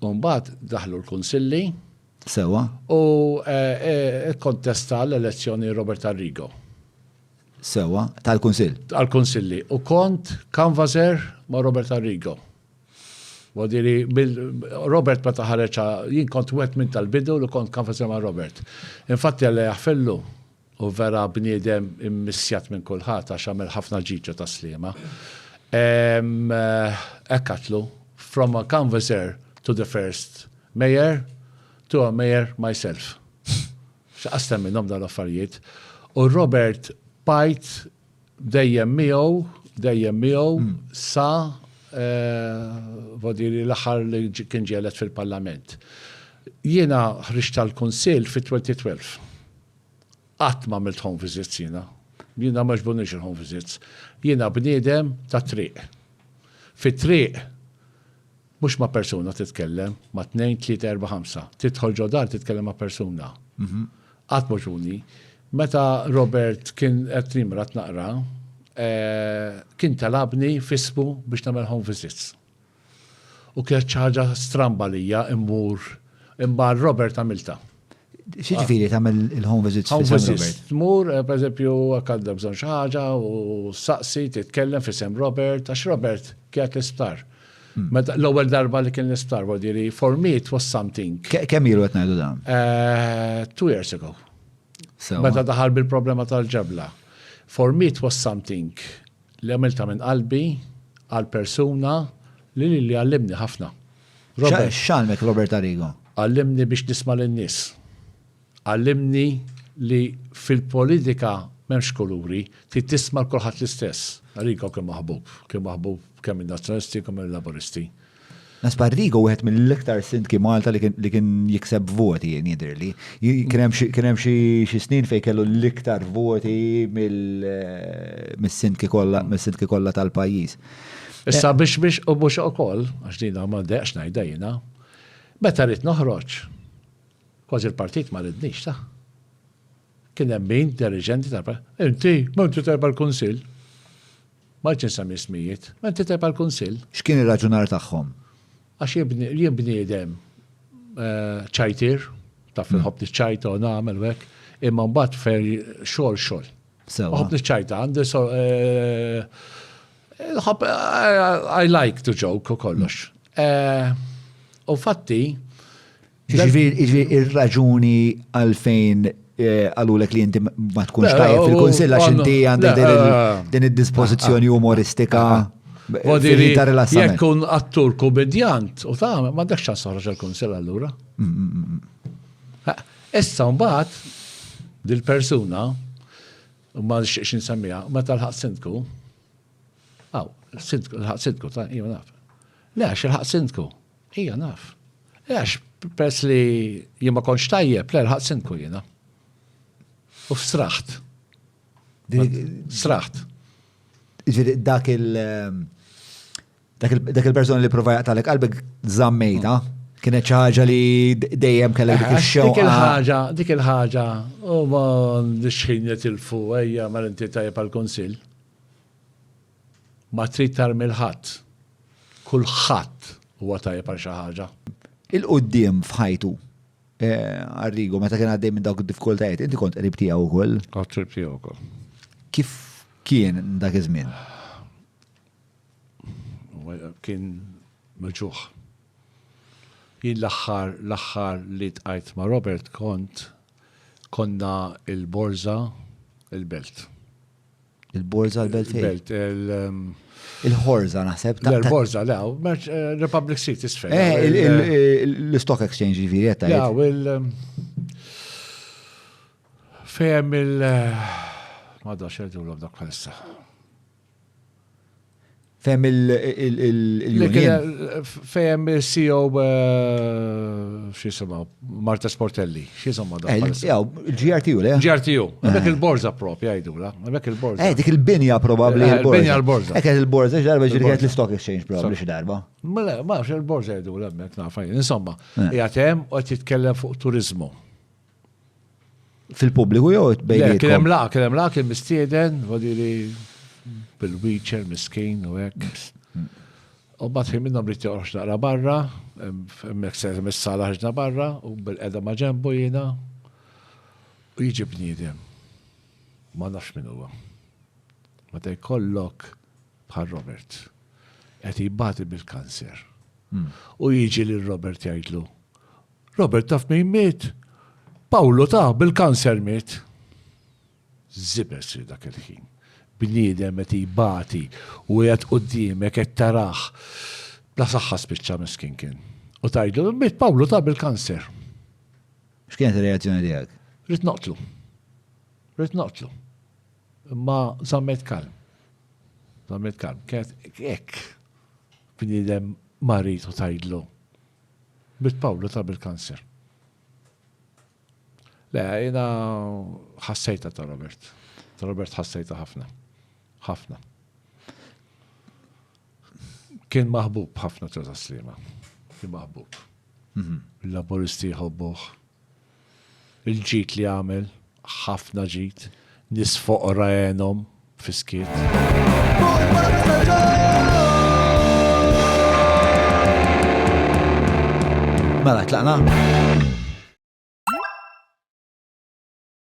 U mbagħad daħlu l-kunsilli. Sewa. U eh, eh, kontesta l-elezzjoni Robert Arrigo. Sewa, tal-kunsill. Tal-kunsilli. U kont kanvaser ma' Robert Arrigo. Wadiri, Robert ma taħareċa, jien kont wet minn tal-bidu li kont kanvaser ma' Robert. Infatti għalli jaħfellu, Hu vera bniedem immissjat minn kulħadd għax għamel ħafna ġiġa tas-Sliema. Hekk għadtlu, From a canvasser to the first Mayor, to a Mayor myself. X'qastem minnhom dawn l-affarijiet. U Robert Pajt dejjem miegħu, dejjem miegħu hmm. sa vodiri eh, l-aħħar li kien ġielet fil-Parlament. Jiena ħriġt tal-Kunsill fit-2012. Qatt m'għamilt home visits jiena. Jiena ma jogħġbunix il-home visits. Jiena bniedem tat-triq. Fit-triq mhux ma' persuna titkellem, ma' tnejn, tlieta, erba' ħamsa. Tidħol ġo dar titkellem ma' persuna. Mhm. Qatt m'għoġbuni. Meta Robert kien qed jimrad naqra, eh, kien talabni f'ismu biex nagħmel home visits. U kienet xi ħaġa stramba lija immur imma Robert għamilta. Xi ġifieri tagħmel il-home visits fi San Robert? Tmur, eh, pereżempju, hekk għandha bżonn xi ħaġa u saqsi titkellem fi Sam Robert, għax Robert kienet l-isptar. Hmm. Meta l-ewwel darba li kien l-isptar, vuol diri for me it was something. Kemm ilu qed ngħidu dan? Eh, two years ago. Meta daħal bil-problema tal-ġebla. For me it was something. li għamiltha minn qalbi għal persuna li lili għallimni ħafna. Robert. X'għallmek Robert Arrigo? Għallimni biex nisma' lin-nies. Għallimni li fil-politika m'hemmx kuluri, trid tisma' l kulħadd l-istess. Arrigo kien maħbub, kien maħbub kemm min-Nazzjonalisti kemm mill-Laburisti. Nasba Rigo wieħed mill-iktar sindki Malta li kien jikseb voti jien jidhirli. Kien hemm xi snin fejn kellu l-iktar voti mis-sindki kollha mis-sindki kollha tal-pajjiż. Issa biex biex u mhux ukoll, għax din ma dejqx ngħidha jiena, meta rrid noħroġ, kważi l-partit ma ridnix ta' kien hemm min deriġenti tal-partit. Inti, ma inti tajba l-kunsill. Ma rridx insemmi ismijiet. Int tikteb għall-Kunsill? X'kien ir-raġunar tagħhom? Għax jien bniedem ċajtier, taf inħobb niċċajta u nagħmel u hekk, imma mbagħad ferri xogħol xogħol. Sewa. Nħobb niċċajta, għandi so nħobb I like to joke u kollox. U fatti Jiġifieri ir-raġuni għalfejn eh, qalulek li inti ma tkunx tajjeb fil-kunsill għax inti għandek din id-dispożizzjoni umoristika. Vodiri, jekk kun attur komedjant u ta' ma dak ċans toħroġ il-kunsill allura. Mm, mm, mm, issa mbagħad dil-persuna ma nxieqx insemmija, meta l-ħaq sindku, għaw, l-ħaq sindku, ta' jgħu naf. Le, għax l-ħaq sindku, Ija naf. Għax, pers li jimma konx tajjeb, l ħat sinku jina. U straħt. Straħt. Ġiri, dak il- ehm, dak il-persona li prova jaqtalek qalbek zammejta, mm. kienet ċaġa li dejjem kellek dik il-xew. Dik il-ħaġa, dik il-ħaġa, u ma nixħin jitilfu, ejja, ma l-inti tajjeb għal-konsil. Ma trid tarmi 'l ħadd. Kulħadd huwa tajjeb għal xi ħaġa. 'il quddiem f'ħajtu. Arrigo, meta kien għaddej minn dawk id-diffikultajiet, inti kont qrib tiegħu wkoll? Kont qrib tiegħu wkoll. Kif kien dak iż-żmien? Kien meġuħ. Jien l-aħħar l-aħħar li tqajt ma' Robert kont konna il-Borza il-Belt. Il-Borza l-Belt Belt il-Horza naħseb. Il-Horza, le, eh, Republic Street isfel. Eh, eh, l-Stock Exchange ġifieri qed tgħid. Jaw il um, fehem il Madda xerdu l dak bħalissa. Fehem il-Union. Fehem il-CEO x'jisimha, Marta Sportelli, x'jisimha dak. GRTU, le? GRTU, dak il-borza prop jgħidula, dak il-borza. Eh, dik il-binja probabbli il-borza. Eh, binja l-borza. Dik il-borza x'darba ġirgħet l-Stock Exchange probabbli xi darba. Mela, ma il-borza jgħidula hemmhekk nafajn. Insomma, jgħatem u qed jitkellem fuq turizmu. Fil-pubbliku jew bejn. Kien hemm laq, kien hemm laq kien mistieden, vodili bil-wheelchair miskin u hekk. U bat ħin minnhom rrid joqgħodx naqra barra, hemmhekk se mis-sala ħaġna barra u bil-qeda ma' ġembu jiena. U jiġi bniedem. Ma nafx min huwa. Meta jkollok bħal Robert. Qed jibati bil-kanser. Hmm. U jiġi lil Robert jgħidlu, Robert taf min miet? Pawlu taf bil-kanser miet. Żibes li dak il-ħin. Bniedem qed jbati u qiegħed quddiemek qed tarah bla saħħa spiċċa miskin kien. U tgħidlu li miet Pawlu taf bil-kanser. X'kienet ir-reazzjoni tiegħek? Rid noqtlu. Rid noqtlu. Imma żammet kalm. Żammet kalm. Kienet hekk. Bniedem marid u tgħidlu Bid Pawlu ta' bil-kanser. Le, jina ħassejta ta' Robert. Ta' Robert ħassejta ħafna. ħafna. Kien maħbub ħafna ta' taslima. Kien maħbub. Mhm. Il-laboristi jħobbuħ. Il-ġid li għamel, ħafna ġid, nies foqra għenhom fis-skiet. Mela, tlaqna?